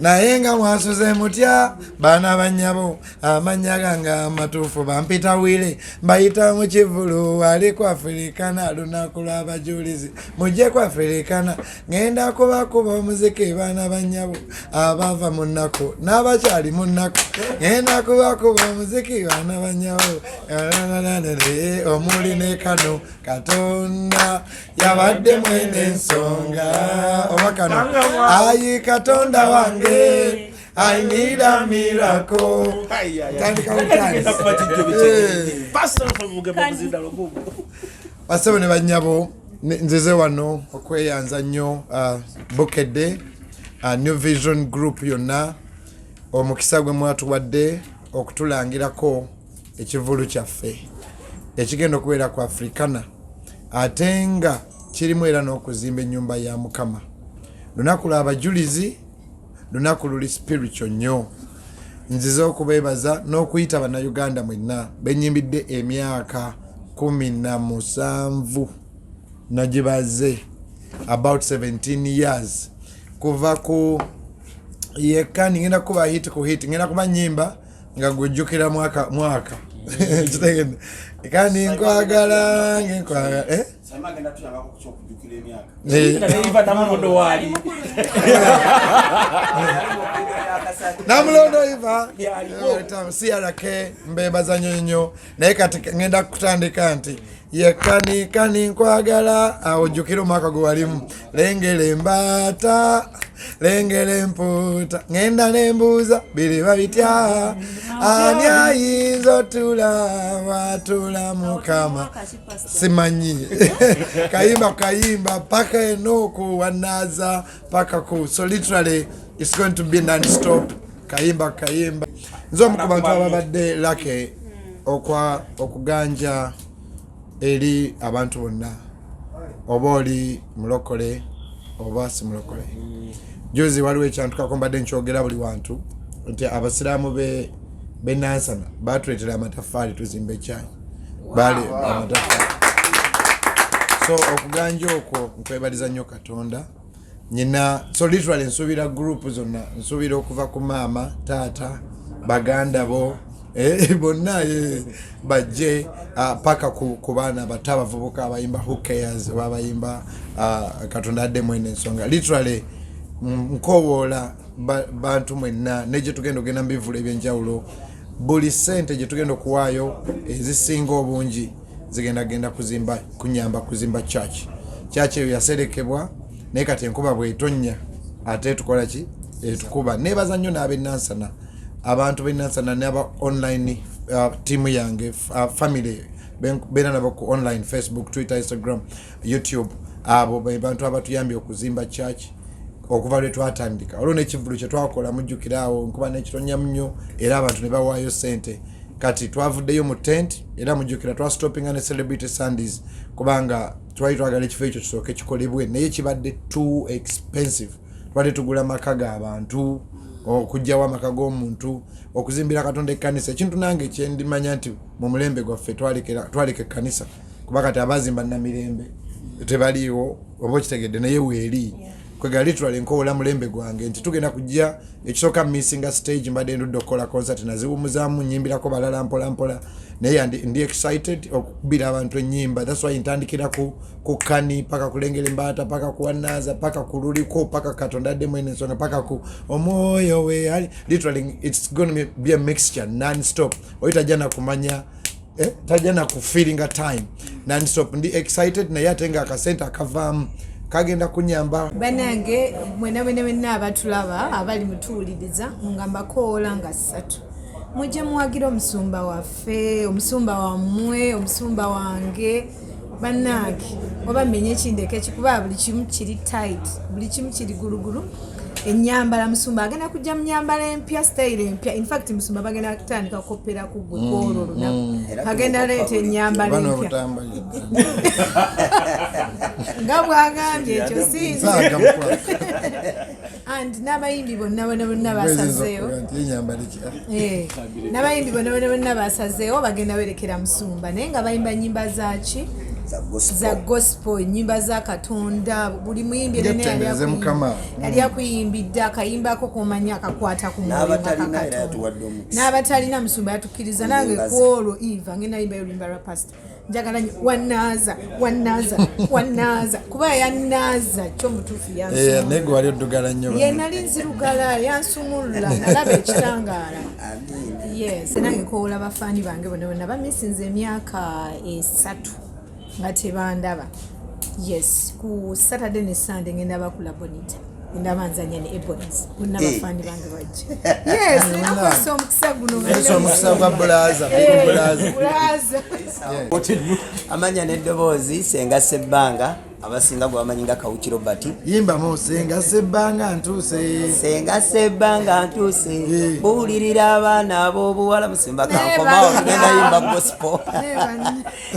naye nga mwasuze mutya baana banyabo amanya gange amatuufu bampita wile mbayita mu kivulu ali kwafirikana lunaku lw'abajulizi mujje kwafirikana ngenda kubakuba omuziki baana banyabo abava mu nnaku n'abakyali mu nnaku ngenda kubakuba omuziki baana banyabo omuli ne kano katonda yabadde mwene ensonga oba kano ayi katonda wange I need a miracle. Tandika utansi. Basebo ne banyabo nzize wano okweyanza nnyo uh, bukedde uh, new vision group yonna omukisa gwe mwatuwadde okutulangirako ekivulu kyaffe ekigenda okubeera ku afrikana ate nga kirimu era n'okuzimba ennyumba ya mukama lunaku lwa bajulizi lunaku luli spiritual nnyo nzize okubeebaza n'okuyita bannayuganda mwenna benyimbidde emyaka kumi na musanvu nagibaze about 17 years kuva ku yekka ningenda kuba hit ku hit ngenda kuba nyimba nga gwejjukira mwaka mwaka kitegedde kandi nkwagala ngenkwagala eh? namulondo iva crk mbebaza nyo nyo naye kati ngenda kutandika nti yekanikani nkwagala awujjukira omwaka gwe walimu lengera embaata lengera empuuta ngenda nembuuza biriba bitya ani ayinza otula watula mukama simanyi kayimba kayimba paka enooku wanaza paka ku so literally it's going to be non stop kayimba kayimba nze omu ku bantu ababadde lake okwa okuganja eri abantu bonna oba oli mulokole oba si mulokole juzi waliwo ekyantukako mbadde nkyogera buli wantu nti abasiraamu be benansana batuletera amataffaali tuzimba ekyayi bale amataffaali so okuganja okwo nkwebaliza nyoka tonda nyina so literally nsubira group zonna nsubira okuva ku maama taata baganda bo eh, bonna eh, bajje ah, paka ku baana bato abavubuka abayimba hokayers oba abayimba ah, katonda adde mwena ensonga literally nkowoola bantu mwenna naye gyetugenda okugenda mu bivula ebyenjawulo buli sente gyetugenda okuwaayo ezisinga obungi zigenda genda kuzimba kunyamba kuzimba church church eyo yaserekebwa naye kati enkuba bwetonya ate tukola ki etukuba nebaza nnyo n'abenansana abantu benansana naba online uh, tiimu yange uh, family beera nabo ku online facebook twitter instagram youtube abo bebantu abatuyambye okuzimba church okuva lwe twatandika olwo nekivulu kyetwakola mujjukiraawo nkuba nekitonyamu nnyo era abantu ne bawaayo sente kati twavuddeyo mu tent era mujukira twastopinga ne celebrity sundays kubanga twali twagala ekifo ekyo kisooke kikolebwe naye kibadde too expensive twali tugula maka ga bantu okugyawo amaka g'omuntu okuzimbira katonda ekkanisa ekintu nange kyendimanya nti mu mulembe gwaffe twaleka ekkanisa kuba kati abazimba namirembe tebaliiwo oba okitegedde naye weeri kwegala literally nkowola mulembe gwange nti tugenda kujja ekisooka missinga stage mbadde ndudde okukola concert naziwumuzaamu nyimbirako balala mpola mpola naye ndi excited okukubira abantu enyimba thats why ntandikira ku, ku kani paka kulengera embaata paka kuwanaza paka kululiko paka katonda addemu eno ensonga paka ku omwoyo we literally its gonna be a mixture non stop oyitajja nakumanya eh, tajja na ku feeling a time non stop ndi excited naye ate nga akasente akavaamu kagenda kunyamba banange mwena mwena mwena abatulaba abali mutuwuliriza nga mbakoola nga ssatu mujja muwagira omusumba waffe omusumba wammwe omusumba wange bannange oba mmenye ekindeka ekikuba buli kimu kiri tight buli kimu kiri gulugulu enyambala musumba agenda kujja munyambala empya style empya infact musumba bagenda kutandika kukopera ku gwe mm, kwolwo lunaku mm. agenda leeta enyambala empya nga bwagambye ekyo sinzi and n'abayimbi bonna bona bonna basazeewo eh, n'abayimbi bona bona bonna basazeewo bagenda berekera musumba naye nga bayimba nyimba zaki za gospel nyimba za katonda buli muyimbi yali akuyimbidde akayimbako komanya akakwata ku n'abatalina musumba yatukkiriza nange kwolwo eva nge nayimba yolimba rapast njagala nyo wanaaza wanaaza wanaaza kuba yanaaza kyo mutuufu yannaye eh, gwe wali oddugala nnyo ye nali nzirugala yansumulula nalaba ekitangaala yes nange kowula bafaani bange bona bona bamisinza emyaka esatu nga tebandaba yes ku saturday ne sunday ngenda bakula bonita ndaba nzanya ne ebonies bonna eh. bafaani bange bajja yesomukisa omukisa gunoomukisa gwa bulaza bulaza amanya n'eddoboozi senga sebbanga abasinga gwebamanyi nga kawuki robert yimbamu senga sebbanga ntuuse senga sebbanga ntuuse eh. buwulirira abaana ab'obuwala musimba kankomawo tugenda yimba gospo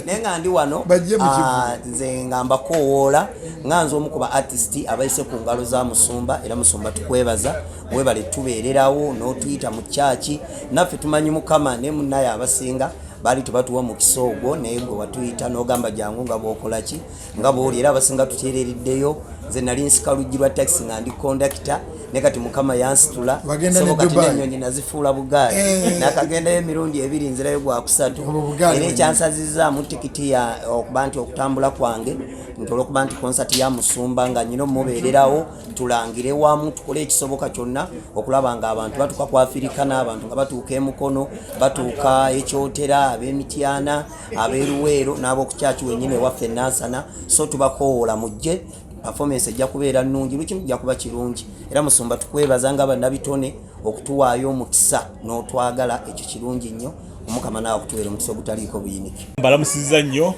naye nga ndi wano ah, nze nga mbakoowoola nga nze omu ku ba artist abayise ku ngalo za musumba era musumba tukwebaza webale tubeererawo n'otuyita mu kyaki naffe tumanyi mukama naye munaye abasinga baali tebatuwa mukisa ogwo naye gwe watuyita n'ogamba jangu nga bwokolaki nga bwoli era abasinga tutereereddeyo nze nali nsika luggi lwa takisi nga ndi kondakita ne kati mukama yansitula soboka ti nenyonyi nazifuula bugaali eh. nakagendayo emirundi ebiri nzirayo gwakusatu era ekyansazizaamu tikiti ya okuba nti okutambula kwange nti olwokuba nti konsati ya musumba nga nyina omubeererawo tulangire wamu tukole ekisoboka kyonna okulaba nga abantu batuuka kwafirika n'abantu nga batuuka emukono batuuka ekyotera ab'emityana abeeruweero n'ab'okukyaki wenyini ewaffe enansana so tubakowoola mujje performance ejja kubeera nnungi buli kimu kijja kuba kirungi era musumba tukwebaza nga bannabitone okutuwaayo omukisa n'otwagala ekyo kirungi nnyo omukama naawe okutuweera omukisa ogutaliiko buyinike mbalamusiza nnyo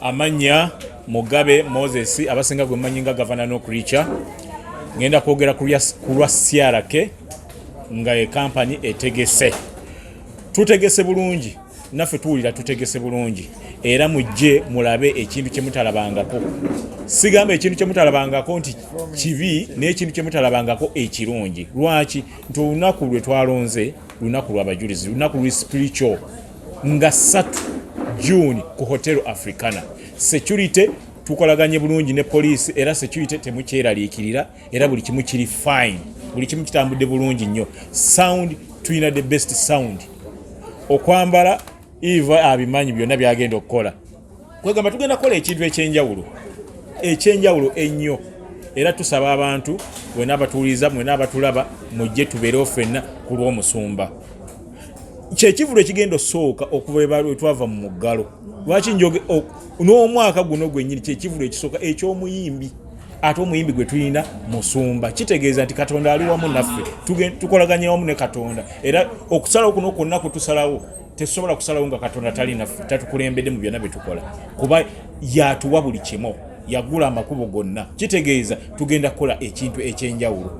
amannya mugabe moses abasinga gwe mmanyi nga gavana n'okurica ngenda kwogera ku lwa crk nga ekampani etegese tutegese bulungi naffe tuwulira tutegese bulungi era mujje mulabe ekintu kyemutalabangako sigamba ekintu kyemutalabangako nti kibi n'ekintu kyemutalabangako ekirungi lwaki nti olunaku lwe twalonze lunaku lwabajulizi lunaku luli spiritual nga satu june ku hotel africana security tukolaganye bulungi ne poliisi era security temukyeraliikirira era buli kimu kiri fine buli kimu kitambudde bulungi nnyo sound tulina the best sound okwambala eva abimanyi byonna byagenda okukola kwegamba tugenda kukola ekintu ekyenjawulo ekyenjawulo ennyo era tusaba abantu wena abatuwuliriza mwena abatulaba mujje tubeerewo fenna ku lw'omusumba kyekivulu ekigenda osooka okuva twava mu muggalo lwaki njoge n'omwaka guno gwenyini kyekivulu ekisooka eky'omuyimbi ate omuyimbi gwe tulina musumba kitegeeza nti katonda ali wamu naffe tukolaganya wamu ne katonda era okusalawo kuno kwonna kutusalawo tesobola kusalawo nga katonda tali naffe tatukulembedde mu byonna byetukola kuba yatuwa buli kimu yagula amakubo gonna kitegeeza tugenda kukola ekintu ekyenjawulo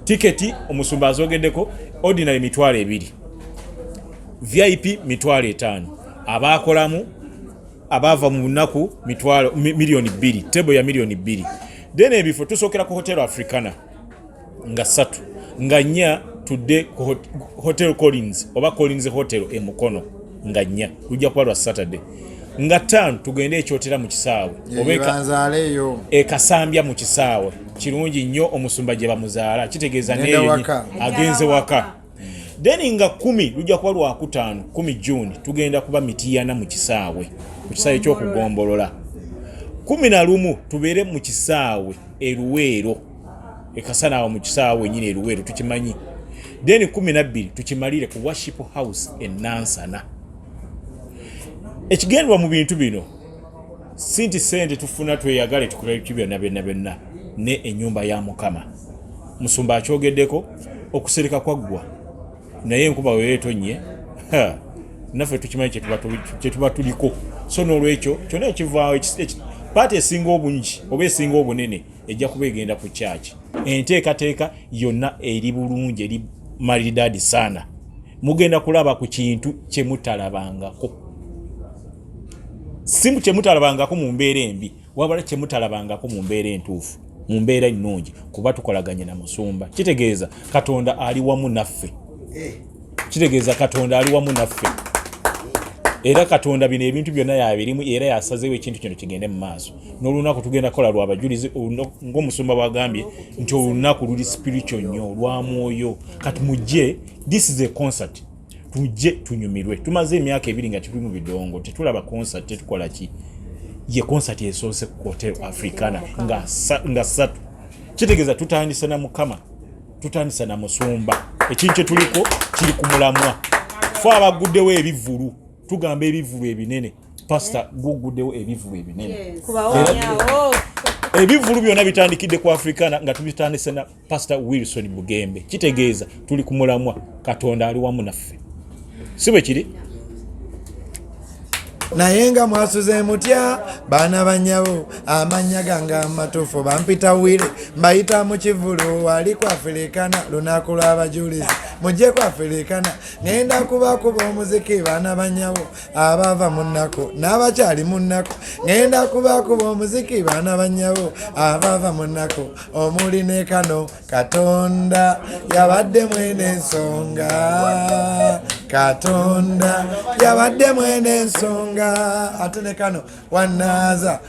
tiketi omusumba azogeddeko ordinary mitwalo ebiri vip mitwalo etaano abaakolamu abaava mu bunaku mitwalo miliyoni bbiri tebo ya miliyoni bbiri then ebifo tusookera ku hotel africana nga satu nga nnya tudde ku hotel collins oba collins hotel e mukono nga nnya lujja kuba lwa saturday nga ttaano tugende ekyotera mu kisaawe obaeyo ekasambya mu kisaawe kirungi nnyo omusumba gye bamuzaala kitegeeza neyo agenze waka then nga kumi lujja kuba lwakutaano kumi juni tugenda kuba mitiyana mu kisaawe ku kisaawe ekyokugombolola kumi na lumu tubeere mu kisaawe eruweero ekasana awo mu kisaawe wenyini eruweero tukimanyi then kumi nabbiri tukimalire ku worship house enansana ekigendwa mu bintu bino sinti sente tufuna tweyagale tukolayo kibyonna byonna byonna ne enyumba ya mukama Musumba akyogeddeko okusereka kwaggwa naye enkuba weyo etonnye naffe tukimanyi kyetuba tuliko so n'olwekyo kyonna ekivaawo paati esinga obungi oba esinga obunene ejja kuba egenda ku kyaki enteekateeka yonna eri bulungi eri malidaadi saana mugenda kulaba ku kintu kyemutalabangako simu kyemutalabangako mu mbeera embi wabula kyemutalabangako mu mbeera entuufu mu mbeera ennungi kuba tukolaganye na musumba kitegeeza katonda ali wamu naffe eh. kitegeeza katonda ali wamu naffe era katonda bino ebintu byonna yabirimu era yasazeewo ekintu kino kigende mu maaso n'olunaku tugenda kukola lwabajulizi ngaomusumba bwagambye nti olunaku luli spiritual nnyo lwa mwoyo kati mujje this is a concert tujje tunyumirwe tumaze emyaka ebiri nga tuli mu bidongo tetulaba concert tetukola ki ye concert esoose ku hotel africana nga nga satu kitegeeza tutandisa na mukama tutandisa na musumba ekintu kyetuliko kiri ku mulamwa fe abaguddewo ebivulu tugamba ebivulu ebinene pasita eh? guguddewo ebivulu ebinene ebivulu byonna bitandikidde ku africana nga tubitandise pasita wilson bugembe kitegeeza tuli ku mulamwa katonda ali wamu naffe si bwe kiri naye nga mwasuze mutya baana banyabo amanya gange amatuufu bampita wire mbayita mu kivulu wali kwafirikana lunaku lw'abajulizi mujje kwafirikana ngenda kubakuba omuziki baana banyabo abaava mu nnaku n'abakyali mu nnaku ngenda kubakuba omuziki baana bannyabo abaava mu nnaku omuli ne kano katonda yabadde mwene ensonga katonda yabadde mwene ensonga ate ne kano wanaaza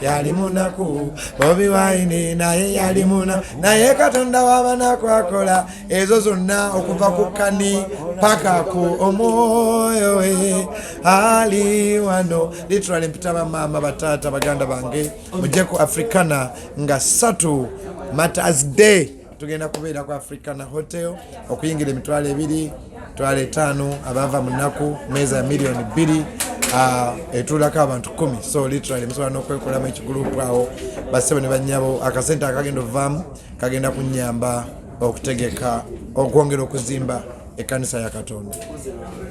yali munaku bobi wine naye yali muna naye katonda wabanaku akola ezo zonna okuva ku kani paka ku omwoyo we ali wano literally mpita bamaama bataata baganda bange mujje ku africana nga satu matas day tugenda kubeera ku africana hotel okuyingira emitwalo ebiri twala etaano abaava mu nnaku meeza ya miliyoni bbiri ah, etuulako abantu kumi so literally musobola n'okwekolamu ekigulupu awo bassebo ne bannyabo akasente akagenda ovaamu kagenda kunnyamba okutegeka okwongera okuzimba ekkanisa ya katonda